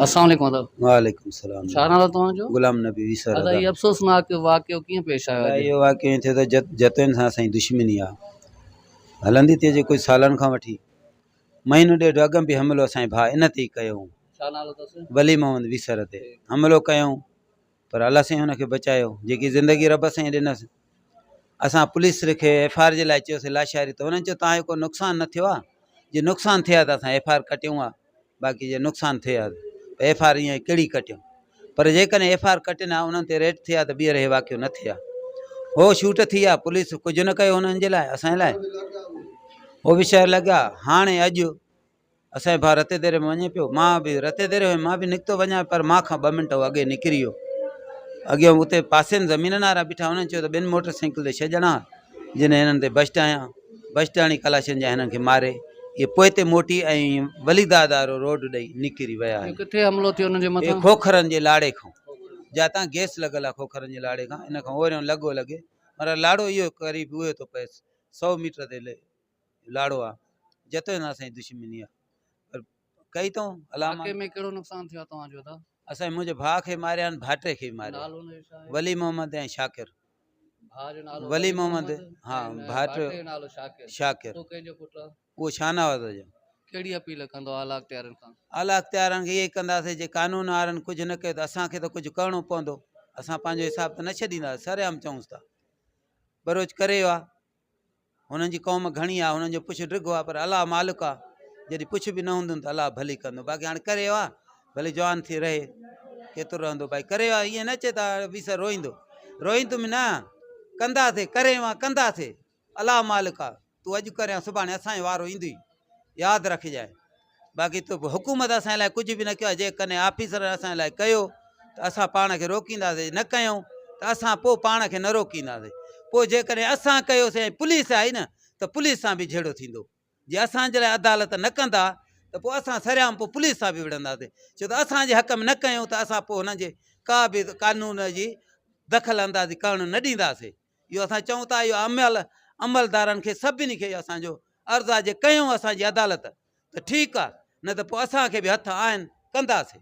اسلام عليڪم ادب. وعليڪم سلام. ڇا نالو توهان جو؟ غلام نبي ويسر. ادا هي افسوسناڪ واقعو ڪيئن پيش آيو اڄ؟ اهو واقعو ائين ٿيو ته جت جتوين سان اسان جي دشمني آ هلندي ٿي اچي ڪجهه سالن کان وٺي مهينو ڏيڍ اڳ ۾ به حملو اسان جي ڀاء ان تي ئي ڪيو هون ڇا نالو تس؟ ولي محمد ويسر تي حملو ڪيائون پر الله سائين ان کي بچايو جيڪي زندگي رب سائين ڏنس اسان پوليس کي ايف آر جي لاء چيوسي لاشاري ته انهن چيو تان جو ڪو نقصان نه ٿيو آ جي نقصان ٿئي آ ته اسان ايف آر ڪٽيون آ باقي جي نقصان ٿئي آ ته ايف آر ايئن ڪهڙي ڪٽيون پر جيڪڏهن ايف آر ڪٽين آ انهن تي ريٽ ٿئي آ ته ٻيهر هي واقعو نه ٿئي آ هو شوٽ ٿي آ پوليس ڪجهه نه ڪيو انهن جي لاء اسان جي لاء هو به شهر لڳا هاڻي اڄ اسان جو ڀاء رتي ديري ۾ وڃي پيو مان به رتي ديري هيم مان به نڪتو وڃان پر مان کان ٻه منٽ هو اڳي نڪري ويو اڳيان اتي پاسي ۾ زمينن وارا بيٺا هن چيو ته ٻن موٽر سائيڪل تي ڇهه ڄڻا جن هنن تي بشٽ هنيا بشٽ هڻي ڪلاشن جا هنن کي ماري اهي پوء تي موٽي ۽ وليداد وارو روڊ ڏئي نڪري ويا آهن ڪٿي حملو ٿيو انهن جي مٿان کوکرن جي لاڙي کان جاتان گيس لڳل آهي کوکرن جي لاڙي کان ان کان اوريون لڳو لڳي مگر لاڙو اهو قريب اهو ٿو پئي سو ميٽر تي لاڙو آ جتو هن اسان جي دشمني آ پر ڪئي تون علامه واقعي ۾ ڪهڙو نقصان ٿيو آ توهان جو ادا اسان جي منهنجي ڀاء کي ماريا آهن ڀاٽي کي به ماريو نالو هن جو ڇا آهي ولي محمد ۽ شاڪر ڀاء جو نالو ولي محمد ها ۽ ڀاٽي ڀاٽ جو نالو شاڪر شاڪر تون ڪنهن جو پٽ آ اهو شاهنواز جو ڪهڙي اپيل ڪندو اعليٰ اختيارين کان اعليٰ اختيارين کي اهو ئي ڪنداسين جي قانون وارن ڪجهه نه ڪيو ته اسان کي ته ڪجهه ڪرڻو پوندو اسان پنهنجو حساب ته نه ڇڏيندا سرعام چئونس ٿا بروچ ڪري ويو آ هنن جي قوم گهڻي آ هنن جو پڇ ڊگهو آ پر الله مالڪ آ جڏهن پڇ به نه هوندن ته الله ڀلي ڪندو باقي هاڻي ڪري ويو آ ڀلي جوان ٿي رهي ڪيترو رهندو بھائي ڪري ويو آ ائين نه چي ته ويسر روئيندو روئيندو به نه ڪنداسي ڪري ويو آ ڪنداسي الله مالڪ آ تون اڄ ڪري سڀاڻي اسان جو وارو ايندوئي ياد رکجانء باقي تو حڪومت اسان لاء ڪجهه به نه ڪيو جي ڪني آفيسر اسان لاء ڪيو ته اسان پاڻ کي روڪينداسي نه ڪيو ته اسان پوء پاڻ کي نه روڪينداسي پوء جي ڪني اسان ڪيوسي ۽ پوليس آئي نه ته پوليس سان به جھيڙو ٿيندو جي اسان جي لاء عدالت نه ڪندا ته پوء اسان سريام پوء پوليس سان به وڙهنداسي ڇو ته اسان جي حق ۾ نه ڪيو ته اسان پوء هنن جي ڪا به قانون جي دخل اندازي ڪرڻ نه ڏينداسي اهو اسان چئون ٿا اهو اميل عملدارن کي سڀني کي اسان جو عرض آهي جي ڪيون اسان جي عدالت ته ٺيڪ آهي نه ته پوء اسان کي به هٿ آهن ڪنداسين.